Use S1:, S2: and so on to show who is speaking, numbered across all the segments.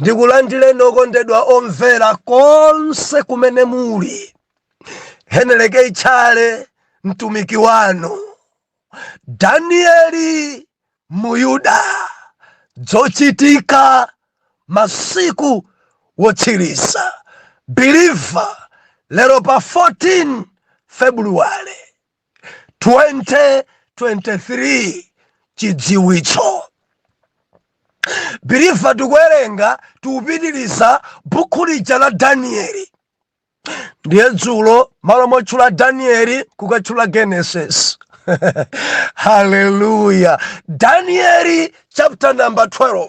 S1: ndikulandireni okondedwa omvera konse kumene muli heneleke itchale mtumiki wanu danieli muyuda dzochitika masiku wotsiriza believer lero pa 14 februwale 2023 chidziwitso believer tikuwerenga tikupitiriza bukhu lija la danieli ndiye dzulo malo motchula danieli kukatchula genesis haleluya danieli chapter number 12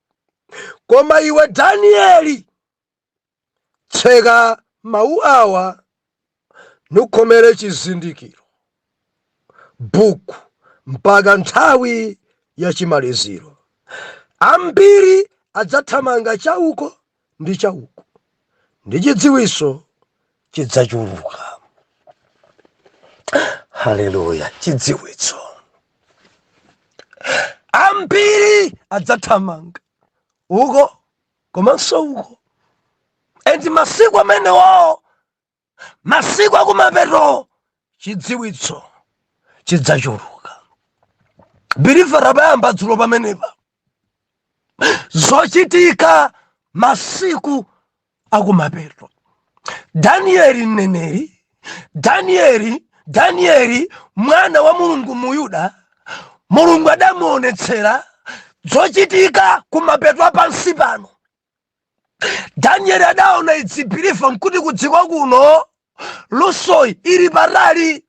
S1: Koma iwe Danieli, tseka mawu awa nukhomere chizindikiro buku mpaka nthawi ya chimaliziro. Ambiri adzathamanga chauko ndi cha uko ndi chidziwitso chidzachuluka haleluya chidziwitso ambiri adzathamanga uko komanso uko and masiku amenewo masiku akumapeto chidziwitso chidzachuluka believer tabayamba dzulo pamenepa zochitika masiku akumapeto danieli mneneri danieli danieli mwana wa mulungu muyuda mulungu adamuonetsera zochitika kumapeto a pansi pano danieli adaona idzipirifa mkuti kudziko kuno lusoyi ili patali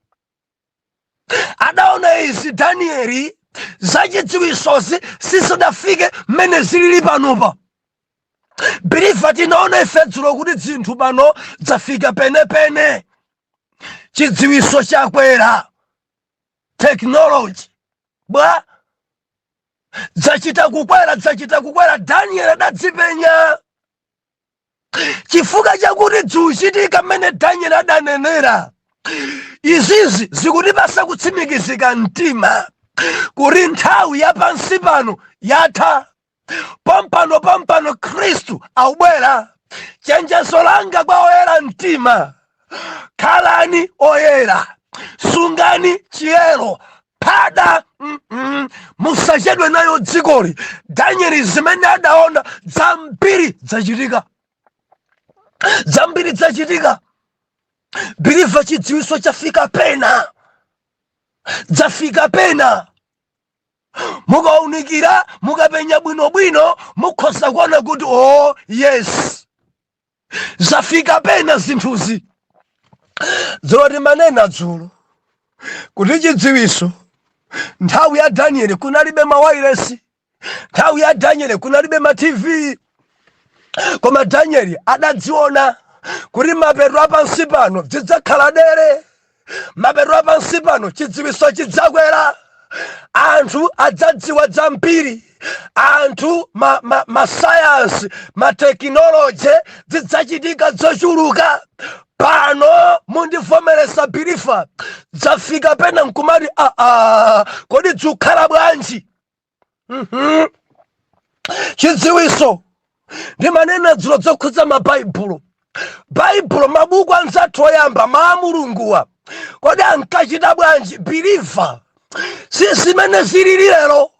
S1: adaona izi danieli zachidziwisozi sizidafike mmene zilili panopa birifa tinaona ife dzulo kuti dzinthu pano dzafika penepene chidziwiso chakwera tekinoloji bwa? Dzachita kukwera, dzachita kukwera. Danieli adadzipenya chifukwa chakuti dzikuchitika mmene Danieli adanenera. Izizi zikutipatsa kutsimikizika mtima kuti nthawi ya pansi pano yatha. pompano pompano khristu akubwera chenjezo langa kwa oyera mtima khalani oyera sungani chiyero phada mm -mm. musachedwe nalo dzikoli danieli zimene adaona zambiri zachitika zambiri zachitika believer chidziwitso chafika pena zafika pena mukaunikira mukapenya bwinobwino mukhoza kuona kuti oh, yes zafika pena zinthuzi dzulo timanena dzulo kuti chidziwitso nthawi ya danieli kunalibe mawayilesi nthawi ya danieli kunalibe matv koma danieli adadziona kuti mapeto apansi pano zidzakhala dere mapeto apansi pano chidziwiso chidzakwera anthu adzadziwa zambiri anthu masayansi ma, ma masayansi, matekinoloji zidzachitika zochuluka pano mundivomereza biliva zafika pena nkumati aa kodi dzukhala bwanji Mhm. chidziwiso ndimanena dzulo zokhudza mabaibulo baibulo mabuku anzathu oyamba maa mulunguwa kodi ankachita bwanji biliva si zimene zilili lero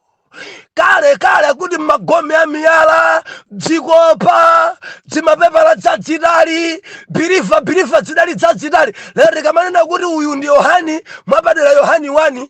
S1: kalekale kuti magome a miyala dzikopa dzimapepala dzadzitali biliva biliva dzidali dzadzitali lero tikamanena kuti uyu ndi yohani mwa chaputala yohani 1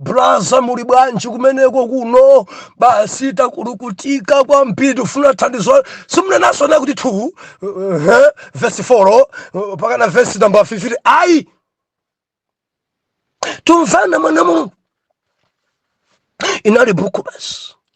S1: Braza muli bwanji kumeneko kuno basi takulukutika kwambiri tifuna thandizo simunenaso nakuti 2 uh, uh, vesi 4 uh, pakana vesi namba 50 ayi tumvana mwana wa mulungu inali buku basi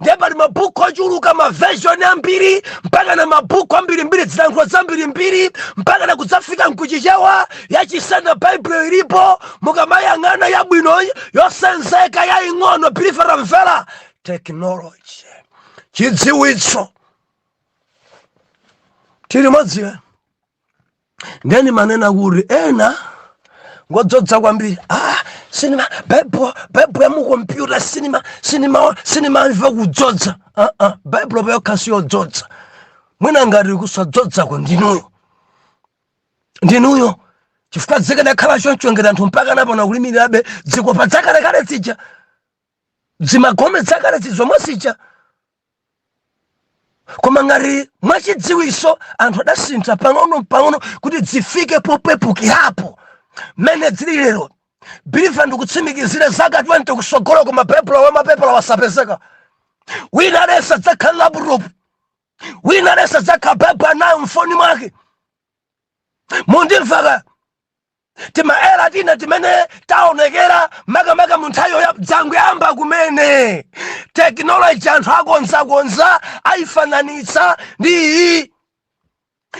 S1: ndiye pali mabuku ochuluka maversion ambiri mpaka na mabuku ambirimbiri dzilankhulo zambirimbiri mpaka na kudzafika mkuchichewa yachisena baibulo ilipo mukamayang'ana yabwino yosenzeka yaing'ono biliva mvera technology chidziwitso tili modziwe ndiye ndimanena kuti ena ngodzodza kwambiri ah, sinimva baibulo baibulo ya mukompyuta sinimva sinimva sinimamva kudzodza ah, ah, baibulo payokha siyodzodza mwina ngati kusadzodzako ndinuyo ndinuyo chifukwa zikanakhala choncho ngati anthu mpaka napona kulimbirabe dzikopa dzakalekale zija dzimagome dzakalezi zomwe zija koma ngati mwachidziwiso anthu adasintha pang'ono mpang'ono kuti dzifike popepukirapo mmene dzili lero biliva ndikutsimikizire zaka 20 kusogolo koma baibulo wamapepala wasapezeka wina aliyense adzakhala laputopu wina aliyense adzakhala baibulo nayo mfoni mwake mundimvaka Timaera tina timene taonekera makamaka mu nthawi yoyamba dzangoyamba kumene tekinoloji anthu akonzakonza ayifananitsa ndi iyi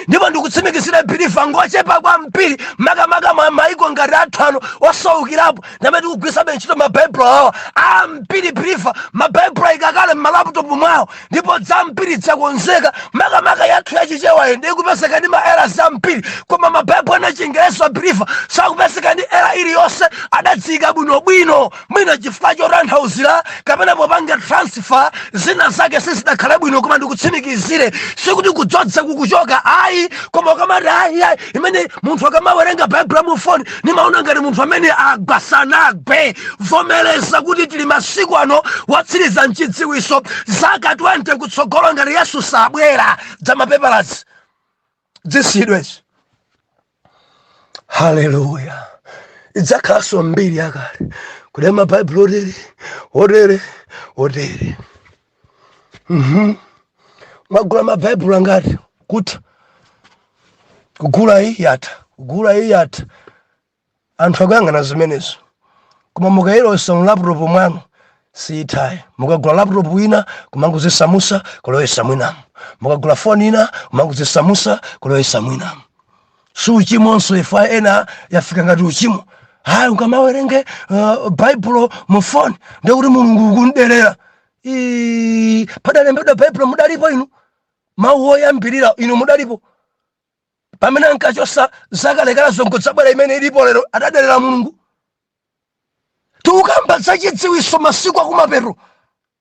S1: ndipo ndikutsimikizira biliva ngochepa kwambiri makamaka maiko ngati athu ano osaukirapo ndamene tikugwiritsabe ntchito mabaibulo awa ambiri biliva mabaibulo ayika kale m'malaputopu mwawo ndipo zambiri dzakonzeka makamaka yathu yachichewayo inde ikupezeka ndi ma error ambiri koma mabaibulo ena achingerezi believer sakupezeka ndi error iliyonse adaziyika bwinobwino mwina chifukwa chotanthauzira kapena popanga transfer zina zake sizidakhala bwino koma ndikutsimikizire sikuti kudzodza kukuchoka ayi koma ukamati ayi ayi imene munthu akamawerenga baibulo mu foni ndimaona ngati munthu amene agwa sanagwe vomereza kuti tili masiku ano otsiriza nchidziwitso zaka 20 kutsogolo ngati yesu sabwera za mapepalazi zisiyidwa izi haleluya idzakhalanso mbiri yakale kuti mabaibulo otere otere otere Mhm. Mwagula mabaibulo angati kuti kugula iyi yatha kugula iyi yatha anthu akuyang'ana zimenezo koma mukayilowesa mu laptop mwanu siyitha ayi mukagula laptop ina kumangozisamusa kulowesa mwinamo mukagula foni ina kumangozisamusa kulowesa mwinamo si uchimonso ife ena yafika ngati uchimo ayi ukamawerenga uh, baibulo mu foni ndekuti mulungu ukumderera padalembedwa baibulo mudalipo inu mawu oyambirira inu mudalipo pamene ankachosa zakalekala zongodzabwera imene ilipo lero adaderera mulungu tikukamba zachidziwitso masiku akumapeto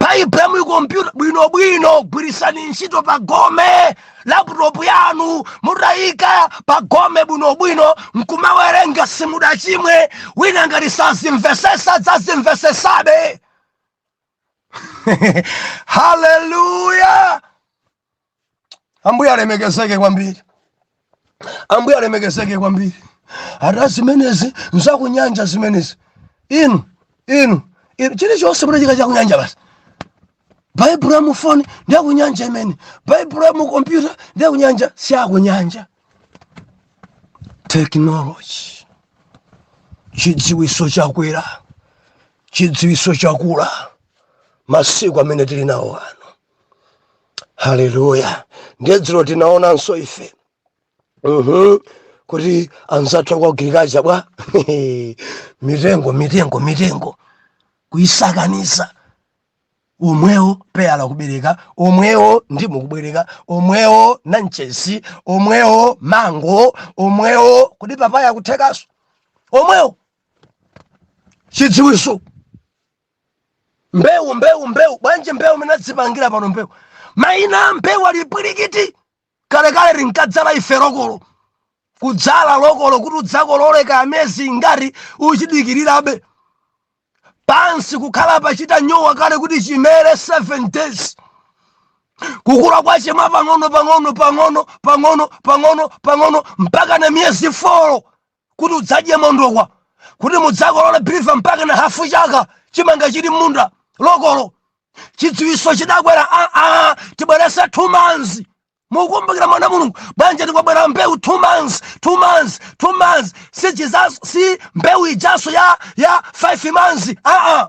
S1: baibulo mu kompyuta bwinobwino gwirisani ntchito pa gome laputopu yanu mutayika pa gome bwinobwino nkumawerenga simudachimwe wina ngati sazimvesesa adzazimvesesabe haleluya Ambuye alemekezeke kwambiri, Ambuye alemekezeke kwambiri. Ati zimenezi nzakunyanja zimenezi, inu inu inu, chilichonse muzitcha chakunyanja basi. Baibulo ya mufoni ndi yakunyanja imeneyo, Baibulo ya mukompyuta ndi yakunyanja, si yakunyanja. Technology, chidziwiso chakwera, chidziwiso chakula masiku amene tili nawo ano. haleluya ndiye dzulo tinaonanso ife Mhm. kuti anzathu a ku agriculture bwa mitengo mitengo mitengo kuisakaniza omwewo peyala kubereka omwewo ndimu kubereka omwewo nanchesi omwewo mango omwewo kuti papaya kuthekaso omwewo chidziwitso mbewu mbewu mbewu bwanji mbewu imene adzipangira pano mbewu maina a mbewu ali phwirikiti kalekale tinkadzala ife lokolo kudzala lokolo kuti udzakolole ka amezi ingati uchidikirirabe pansi kukhala pachita nyowa kale kuti chimere 7 days kukula kwache mwa pang'ono pang'ono pang'ono pang'ono pang'ono pang'ono mpaka na miyezi 4 kuti udzadye mondokwa kuti mudzakolole biliva mpaka na hafu chaka chimanga chili m'munda lokolo chidziwiso chidakwera aa tibweretsa two months mukumbukira mwana mulungu bwanji tikwabwera mbewu two months two months two months si chizaso si mbewu ijaso ya ya five months aa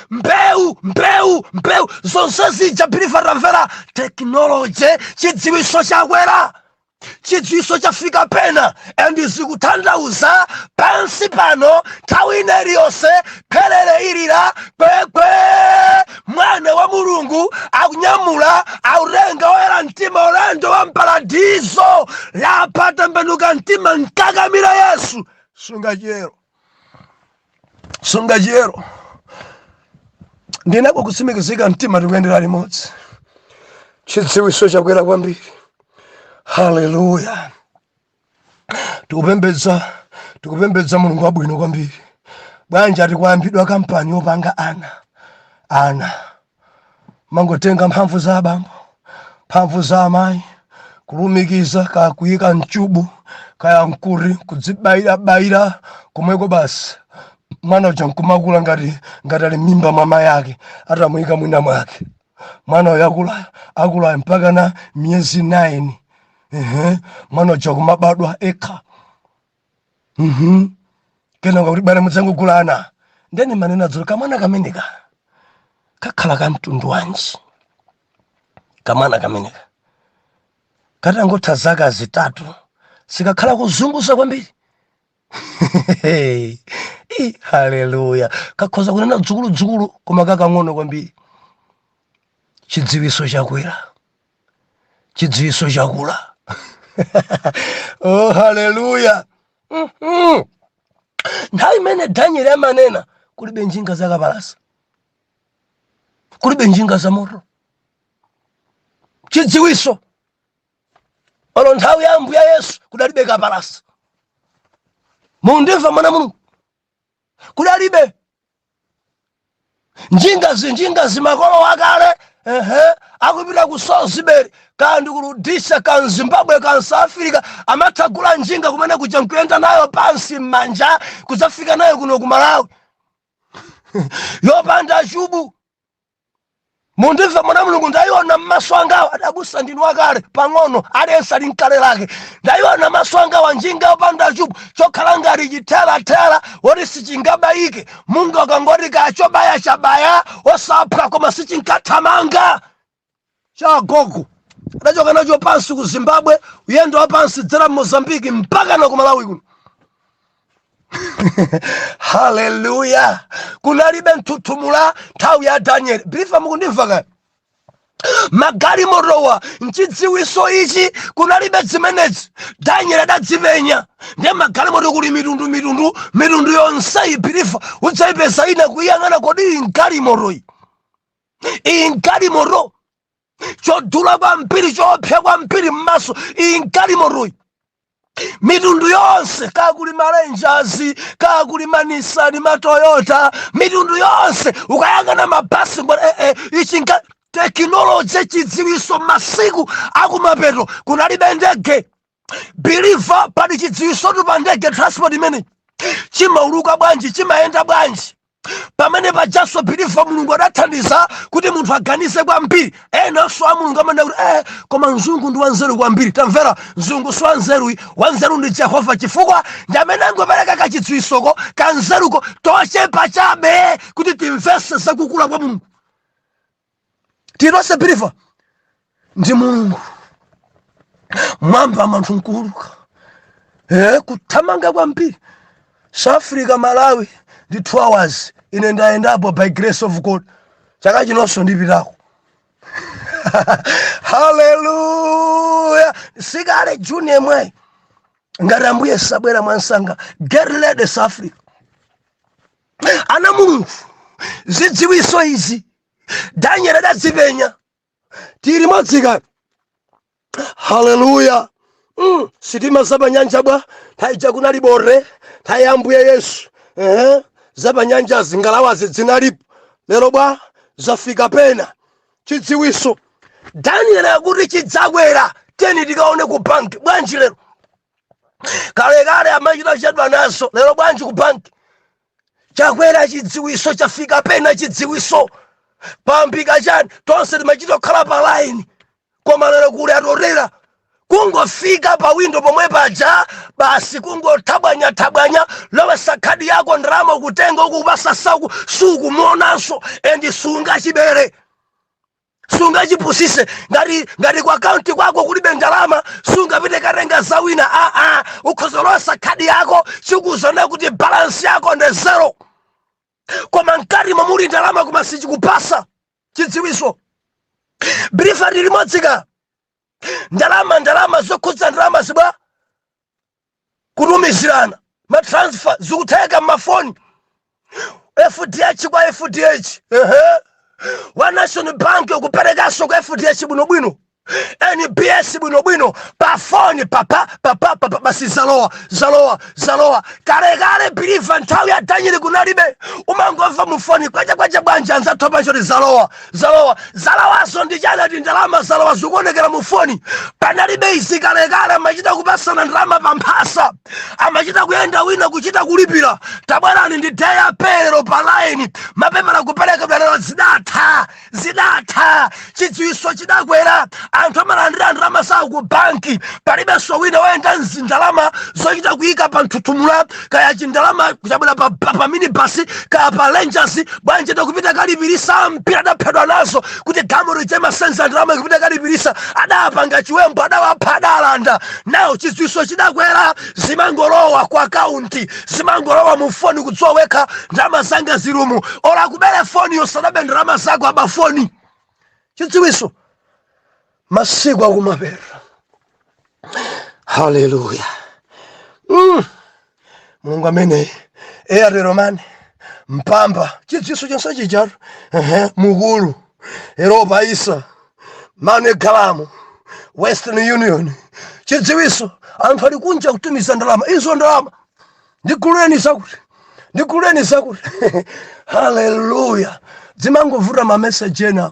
S1: mbewu mbewu mbewu zonse zija biliva tamvera tekinoloji chidziwiso chakwera chidziwiso chafika pena and zikutanthauza pansi pano nthawi ina iliyonse phelele ilira kwekwe mwana wa mulungu akunyamula akutenga oyera mtima ulendo wa mparadizo lapa tembenuka mtima nkakamira yesu sunga chiyero sunga chiyero ndi nako kutsimikizika mtima tikuyendera limodzi chidziwiso chakwera kwambiri haleluya tikupembedza tikupembedza mulungu wabwino kwambiri bwanji ati kwayambidwa kampani yopanga ana ana mangotenga mphamvu za abambo mphamvu za amayi kulumikiza kaya kuyika mchubu kaya nkuti kudzibayirabayira komweko basi mwana uja nkumakula ngati ngati ali mmimba mwa mayi ake atamuyika mwina mwake mwana uyo akulayo akulayo mpaka na miyezi 9 ehe mwana uja kumabadwa ekha Mhm. kenaka kuti bwana mudzangogula ana nde nimanena dzulo kamwana kameneka kakhala ka mtundu wanji kamwana kameneka katangotha zaka zitatu sikakhala kuzunguza kwambiri Ih, haleluya kakhoza kunena dzukuludzukulu koma kakang'ono kwambiri chidziwiso chakwera chidziwiso chakula oh haleluya Mhm. nthawi imene danieli amanena kulibe njinga zakapalasa kulibe njinga za moto chidziwiso olo nthawi ya ambuye yesu kudalibe kapalasa mundimva mwana mulungu kudalibe njinga njingazi makolo akale ehe akupita ku salisbury kaya ndi ku rhodesia ka m'zimbabwe ka south africa amathagula njinga kumene kuja nkuyenda nayo pansi m'manja kudzafika nayo kuno ku malawi yopanda chubu mundive mwana mulungu ndayiona maso angawa abusa ndinu wakale pang'ono aliyense ali mkale lake ndayiona maso angawa njinga yopanda chubu chokhala ngati chiterera woti sichingabayike munga ukangoti kaya chobaya chabaya osaphwa koma sichinkathamanga cha agogo adachoka nacho pansi ku zimbabwe uyendo wa pansi dzera mozambiki mpaka na ku malawi kuno haleluya kunalibe mthuthumula nthawi ya danieli biliva mukundimva kaya magalimotowa mchidziwiso ichi kunalibe zimenezi danieli adadzipenya ndiye magalimoto kuli mitundu mitundu mitundu yonseyi biliva udzayipeza ina kuyang'ana kodi iyi mgalimotoyi iyi mgalimoto chodula kwambiri choopsa kwambiri m'maso iyi mgalimotoyi mitundu yonse kaya kuli ma rangers kaya kuli manisani matoyota mitundu yonse ukayang'ana mabasi mbona eh, eh, ichi ncha tekinoloji chidziwiso masiku akumapeto kunalibe ndege biliva pali chidziwisotu pa ndege transport imene chimauluka bwanji chimayenda bwanji pamene pajanso biliva mulungu adathandiza kuti munthu aganize kwambiri enanso a mulungu amanena kuti eh, koma mzungu ndi wanzeru kwambiri tamvera mzungu si wanzeru ayi wanzeru ndi jehova chifukwa ndi amene angopereka kachidziwisoko kanzeruko tochepa chabe kuti timvese zakukula kwa mulungu tili tonse biliva ndi mulungu mwambamo anthu mkuuluka e, kuthamanga kwambiri south africa malawi ndi 2 hours ine ndayendapo by grace of god chaka chinonso ndipitako haleluya sikale juni yemweyi ngati ambuye sabwera mwamsanga get ready south africa ana mulungu zidziwiso izi daniel adadzipenya tili modzika haleluya mm. sitima zapanyanja bwa nthawi ija kunali bote nthawi ya ambuye yesu uh -huh. zapanyanjazi ngalawazi dzinalipo lero bwa zafika pena chidziwiso daniel akuti chidzakwera teni tikaone ku banki bwanji lero kalekale amachita chedwa nazo lero bwanji ku banki chakwera chidziwiso chafika pena chidziwiso pampika chani tonse timachita kukhala pa laini koma lero kuli atorera kungofika pa windo pomwe paja basi kungothabwanya thabwanya lowesa khadi yako ndalama kutenga kukupasa saku sukumuonanso endi sungachibere sungachipusise ngati ngati ku akaunti kwako kulibe ndalama sungapite katenga za wina aa ukhoza kulowesa khadi yako chikuuzanso kuti balansi yako ndi zero koma mkati momo muli ndalama koma sichikupasa chidziwiso brifati limodzika ndalama ndalama zokhudza ndalama zibwa kutumizirana ma transfer zikutheka mmafoni fdh kwa fdh ehe wa national bank kuperekanso ku fdh bwinobwino nbs bwinobwino pafoni papa papa papa basi zalowa zalowa zalowa kalekale biliva nthawi ya danieli kunalibe umangomva mufoni kwacha kwacha bwanji anzathu apa nkuti zalowa zalowa zalowazo ndi chani ati ndalama zalowa zikuonekera mu foni panalibe izi kalekale amachita kupasana ndalama pa mphasa amachita kuyenda wina kuchita kulipira tabwerani ndi day apero pa line mapepala kuperekedwa lero zidatha zidatha chidziwiso chidakwera anthu amalandira ndalama zawo ku banki palibenso wina woyenda ndi ndalama zochita kuyika pa mthuthumula kaya chindalama kuchabwera pa, pa, pa minibus kaya pa rangers bwanji akupita kalipirisa mpira adaphedwa nazo kuti gamu lije asenza ndalama akupita kalipirisa adapanga chiwembu adawapha adalanda nawo chidziwiso chidakwera zimangolowa ku akaunti zimangolowa mu foni kudziwa wekha ndalama zanga zili umu olo akubere foni yo sadabe ndalama zako aba foni chidziwiso masiku akumapeto haleluya mm. mulungu ameneyu atero mwini mphamvu chidziwiso chonse chichatu ehe mukulu eropa isa manegalamu western union chidziwiso anthu ali kunja kutumiza ndalama izo ndalama ndiguleni zakuti ndiguleni zakuti haleluya dzimangovuta mameseji ena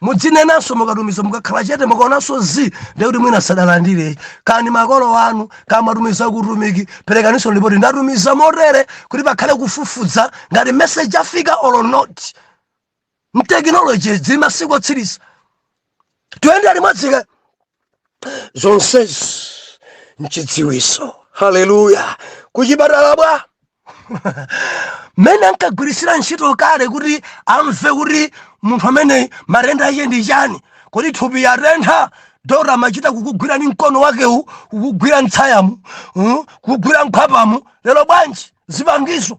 S1: mudzinenanso mukatumiza mukakhala chete mukaonanso zi ndiye kuti mwina sadalandire kani makolo anu kaya mumatumiza kutumiki perekaninso lipoti ndatumiza motere kuti pakhale kufufuza ngati message afika or not tekinoloji zili masiku otsiriza tiyendere limodzi ka zonsezi nchidziwiso haleluya kuchipatala bwa mmene ankagwiritsira ntchito kale kuti amve kuti munthu amene matenda ake ndi chani kodi thupi yatentha dokotala amachita kukugwira ni mkono wakewu kukugwira mtsayamu mm, kukugwira mkhwapamu lero bwanji zipangizo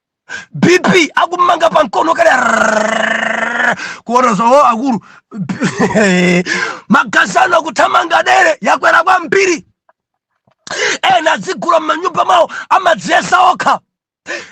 S1: bp akummanga pa mkono kale kuona zao akulu magazi anu akuthamanga dere yakwera kwambiri ena adzigula m'manyumba mwawo amadziyesa okha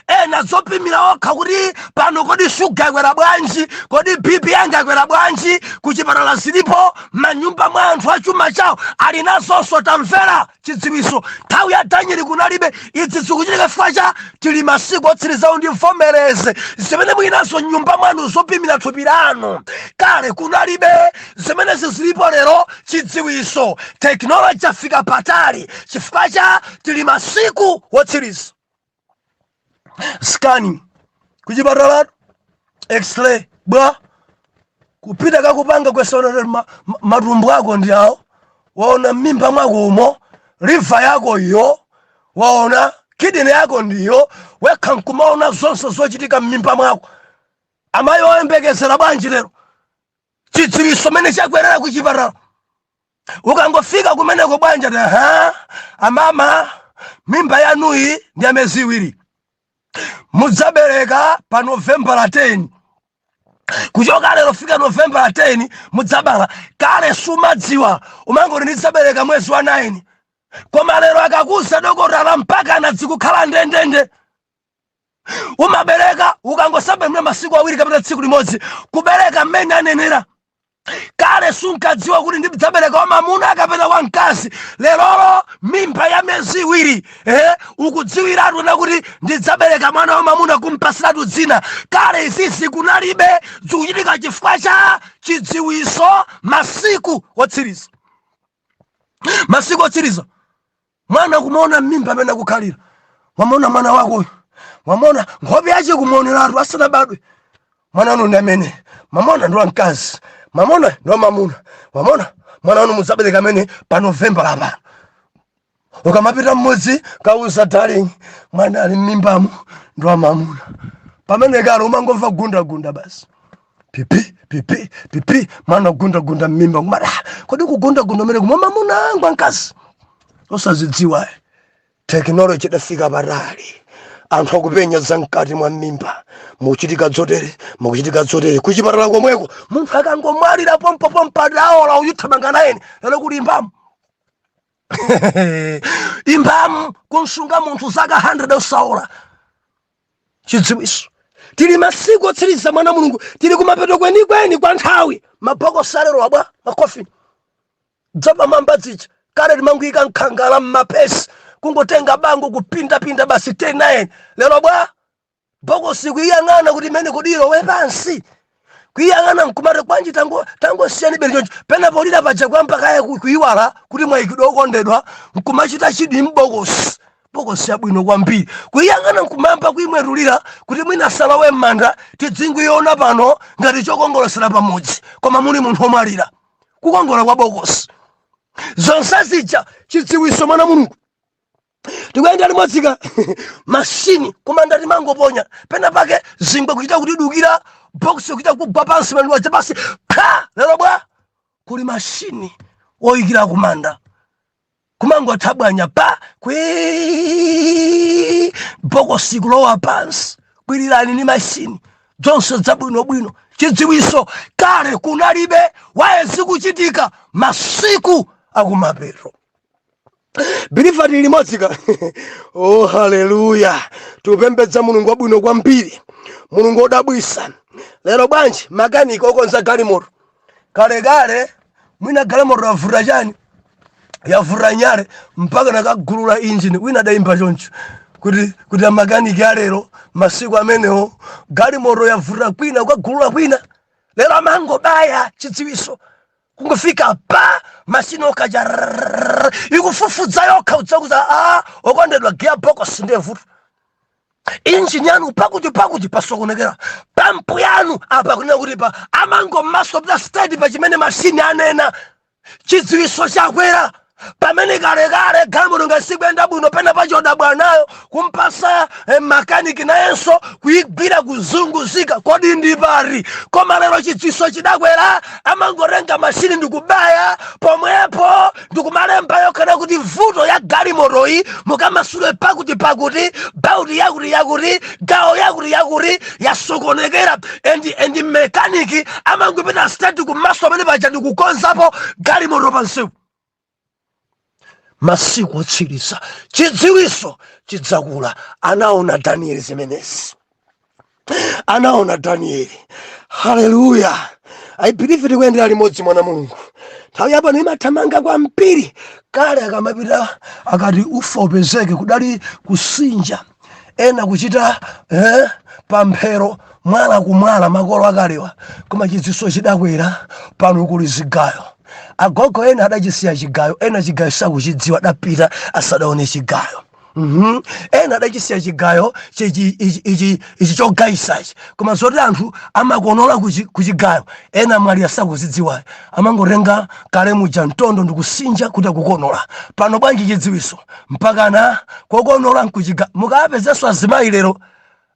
S1: ena zopimira okha kuti pano kodi shuga yakwera bwanji kodi bp yanga yakwera bwanji kuchipatala zilipo m'manyumba mwa anthu achuma chawo ali nazonso tamvera chidziwitso. Nthawi ya Danieli kunalibe izi zikuchitika chifukwa cha tili masiku otsirizawo mundivomereze zimene muli nazo mnyumba mwanu zopimira thupi lanu kale kunalibe zimenezi zilipo lero chidziwitso tekinoloji yafika patali chifukwa cha tili masiku wotsiriza scanning kuchipatalatu x-ray bwa kupita kakupanga waona matumbo ako ndi awo waona mmimba mwako umo liva yako iyo waona kidini yako ndiyo wekha nkumaona zonse zochitika mmimba mwako amayi oyembekezera bwanji lero chidziwitso mmene chakwerera kuchipatala ukangofika kumeneko bwanja ta ha amama mimba yanuyi ndi ya miyezi iwiri mudzabereka pa novembala 10 kuchoka lero kufika novembala 10 mudzabala kale sumadziwa umangoti ndidzabereka mwezi wa 9 koma lero akakuuza dokotala mpaka nadzikukhala ndendende umabereka ukangosemphana masiku awiri kapena tsiku limodzi kubereka mmene anenera kale sunkadziwa kuti ndidzabereka wamamuna kapena wamkazi lerolo mimba ya miyezi iwiri eh, ukudziwiratu na kuti ndidzabereka mwana wamamuna kumpasiratu dzina kale izizi kunalibe zikuchitika chifukwa cha chidziwiso masiku otsiriza masiku otsiriza mwana kumaona mmimba mmene akukhalira wamona mwana wakoyo wamona nkhope yace kumaoneratu asanabadwe mwana wanu ndi amene mwamuona ndi wamkazi mwamuona ndi wamamuna wamona mwana wanu mudzabereka amene pa novemba lapano ukamapita kumudzi kukauza darling mwana ali mmimbamo ndi wamamuna pamene kale umangomva gundagunda basi pipi pipi pipi mwana kugundagunda mmimba kumati ah, kodi kugundagunda umene kumwa mamuna angu ankazi osazidziwa tekinoloji idafika patali anthu akupenya za mkati mwa mmimba muchitika dzotere mukuchitika dzotere kuchipatala komweko munthu akangomwalira pompo pompo adaola uyithamanga nayeni lero kuli imbamu imbamu kunsunga munthu zaka 100 osaola chidziwiso tili masiku otsiriza mwana wa mulungu tili kumapeto kwenikweni kwa nthawi mabokosi alero bwa makofini dzapamwamba dzija kale timangoika mkhangala mmapesi kungotenga bango kupindapinda basi 10 lero bwa bokosi kuyang'ana kuti imene kodi ilowe pansi kuyang'ana nkumati kwanji tangosiyani bere choncho pena polira paja kwamba kaya ku- kuyiwala kuti mwayikidwa okondedwa nkumachita chidwi m'bokosi bokosi yabwino kwambiri kuyang'ana nkumayamba kuyimwetulira kuti mwina salowe m'manda tidzingoyiona pano ngati chokongolosera pamodzi koma muli munthu omwalira kukongola kwa bokosi zonse zija chidziwiso mwana mulungu tikuyenda limodzika mashini kumanda timangoponya pena pake zingwe kuchita kudukira box kuchita kugwa pansi mandu waja pansi pa lero bwa kuli mashini oyikira kumanda kumangothabwanya pa kwi bokosi kulowa pansi kwirirani ni mashini zonse zabwinobwino chidziwiso kale kunalibe wa izi zikuchitika masiku akumapeto I believe tili limodzi ka oh haleluya tikupembedza mulungu wabwino kwambiri mulungu wodabwisa lero bwanji makaniki okonza galimoto kalekale mwina galimoto yavuta chani yavuta nyale mpaka nakagulula injini wina adayimba choncho kuti amakaniki alero masiku amenewo galimoto yavuta kwina ukagulula kwina lero amangobaya chidziwiso kungofika pa mashini okaja ikufufudza yokha idzakuuza a okondedwa gearbox ndiye vuto injini yanu pakuti pakuti pasokonekera pampu yanu apa kunena kuti pa amangomasopita stedi pa chimene mashini anena chidziwiso chakwera pamene kalekale galimoto ngasikuyenda bwino pena pachodabwa nayo kumpasa eh, makaniki nayenso kuyigwira kuzunguzika kodi ndi pati koma lero chidziwiso chidakwera amangotenga mashini ndikubaya pomwepo ndikumalemba yokha kuti vuto ya galimotoyi mukamasule pakuti pakuti bauti yakuti yakuti gawo yakuti yakuti yasokonekera endi endi mekaniki amangopita stedi kumaso amene paja ndikukonzapo galimoto pansewu masiku otsiriza chidziwiso chidzakula anaona danieli zimenezi anaona danieli haleluya i believe tikuyendera limodzi mwana mulungu nthawi yapano imathamanga kwambiri kale akamapita akati ufa upezeke kudali kusinja ena kuchita eh, pamphero mwala kumwala makolo akalewa koma chidziwiso chidakwera pano kuli zigayo agogo ena adachisiya chigayo ena chigayo sakuchidziwa adapita asadaone chigayo Mhm. ena adachisiya chigayo chichi- ichi ichi- ichi chogayisachi koma zoti anthu amakonola kuchi- kuchigayo ena mwali asakuzidziwayi amangotenga kale muja mtondo ndikusinja kuti akukonola pano bwanji chidziwiso mpakana kokonola nkuchigayo mukapezenso azimayi lero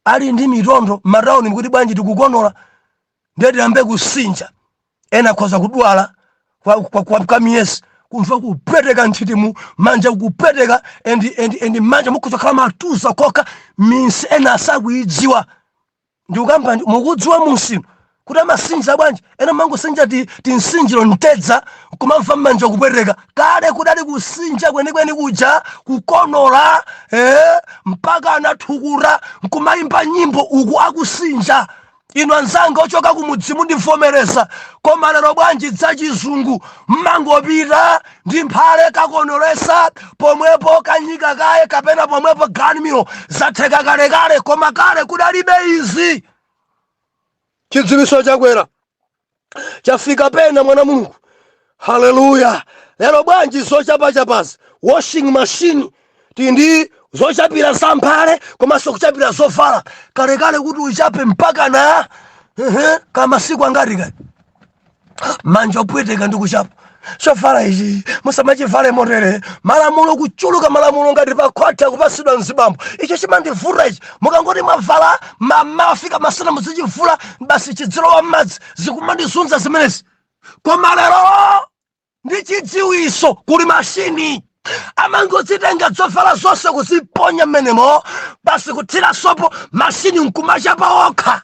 S1: ali ndi mitondo m'matauni mukuti bwanji tikukonola ndiye tiyambe kusinja ena akhoza kudwala kwa, kwa, kwa, kwa miyezi kumva kupweteka nthiti manja kupweteka endi endi endi manja mukudzakhala matuza kokha minsi ena asakuidziwa ndikukamba ndi- mukudziwa munsi inu kuti amasinja bwanji ena mumangosinja tinsinjiro mtedza kumamva mmanja kupweteka kale kudali kusinja kwenikweni kuja kukonola eh, mpaka ana thukuta nkumayimba nyimbo uku akusinja inu anzanga ochoka kumudzi mundivomereza koma lero bwanji dzachizungu mmangopita ndi mphale kakonoletsa pomwepo kanika kaye kapena pomwepo ganmiro zatheka kalekale koma kale kudalibe izi chidziwiso chakwera chafika pena mwana wa mulungu haleluya lero bwanji zochapachapazi washing machine tindi zochapira za mphale komanso kuchapira zovala kalekale kuti uchape mpaka na uh -huh, kamasiku angati kale manja opweteka ndi kuchapa chovala ichi musamachivale motere malamulo kuchuluka malamulo ngati pa court kupatsidwa mzibambo icho chimandivuta ichi mukangoti mwavala mmawa kufika masana muzichivula basi chidzilowa mmadzi zikumandizunza zimenezi koma lero ndi chidziwitso kuli mashini amangodzitenga dzovala zonse kuziponya mmenemo basi kuthira sopo mashini nkumachapa wokha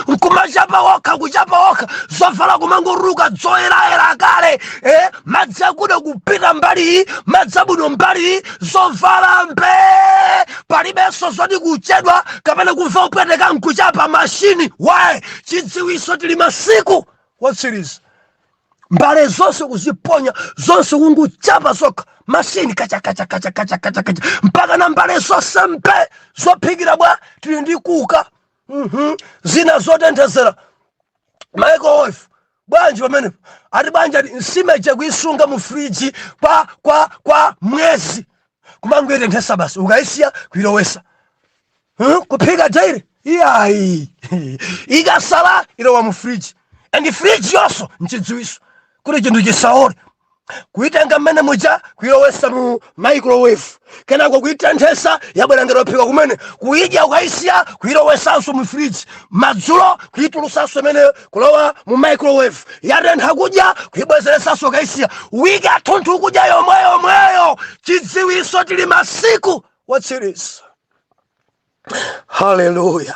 S1: nkumachapa wokha kuchapa wokha zovala kumangotuluka dzoyerayera kale eh? madzi akuda kupita mbali madzi abwino mbali zovala mbe palibenso zoti kuchedwa kapena kumva kupweteka nkuchapa mashini waye chidziwitso tili masiku wotsiriza mbale zonse kuziponya zonse kungochapa zokha mashini kachakachakachakachakacha mpaka na mbale zonse mbe zophikira bwa tili ndi cooker Mhm. zina zotenthezera microwave bwanji pamenepo ati banja ati nsima ija kuisunga mu friji kwa kwa kwa mwezi kumangoitenthesa basi ukaisiya kuilowesa huh? kuphika daily iyayi ikasala ilowa mu fridge and fridge yonso nchidziwiso kuti chinthu chisaole kuitenga mmene muja kuilowesa mu microwave kenako kuitenthesa yabwera ngati yophika kumene kuidya ukaisiya kuilowesanso mu fridge madzulo kuitulusanso imeneyo kulowa mu microwave yatentha kudya kuibwezeresanso ukaisiya wiki yathunthu kudya yomweyo mweyo chidziwiso tili masiku otsiriza haleluya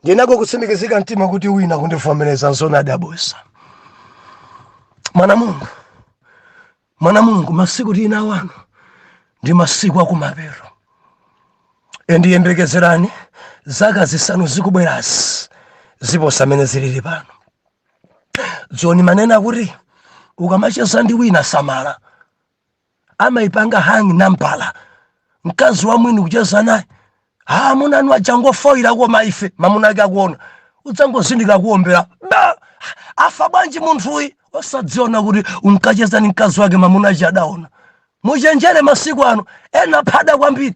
S1: ndinako kutsimikizika mtima kuti wina kundivomereza nzoona abusa mwana mulungu mwana mulungu masiku tili ano ndi masiku akumapero ndiyembekezerani zaka zisanu zikubwerazi ziposa amene zilili pano dzoni manena kuti ukamacheza ndi wina samala amaipanga hack nambala mkazi wa mwini kucheza naye ha amuna anu achangofoyira koma iwe mamuna ake akuona udzangozindikira kuomberedwa wafa bwanji munthuyu osadziwa kuti unkacheza ni mkazi wake mamuna ake adaona muchenjere masiku ano ena phada kwambiri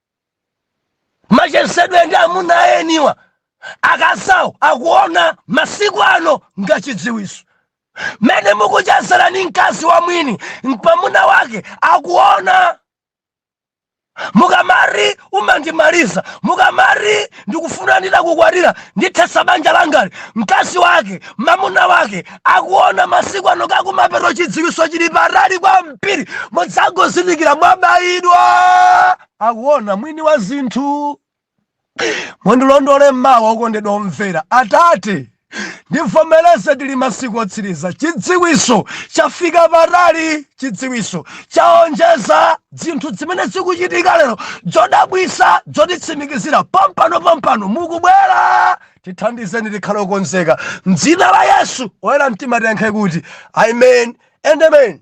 S1: machezedwe ndi amuna aeniwa akazawo akuona masiku ano ngachidziwiso mmene mukuchezera ni mkazi wa mwini mamuna wake akuona mukamari umandimaliza mukamari ndikufuna nditakukwatira ndithesa banja langali mkazi wake mamuna wake akuona masiku ano akumapeto chidziwiso chili patali kwambiri mudzangozindikira mwabayidwa akuona mwini wa zinthu mundilondole mmawa okondedwa omvera atate ndivomereze tili masiku otsiriza chidziwiso chafika patali chidziwiso chaonjeza zinthu zimene zikuchitika lero zodabwisa zotitsimikizira pompano pompano mukubwera tithandizeni tikhale okonzeka mdzina la yesu oyera mtima tiyankhe kuti amen and amen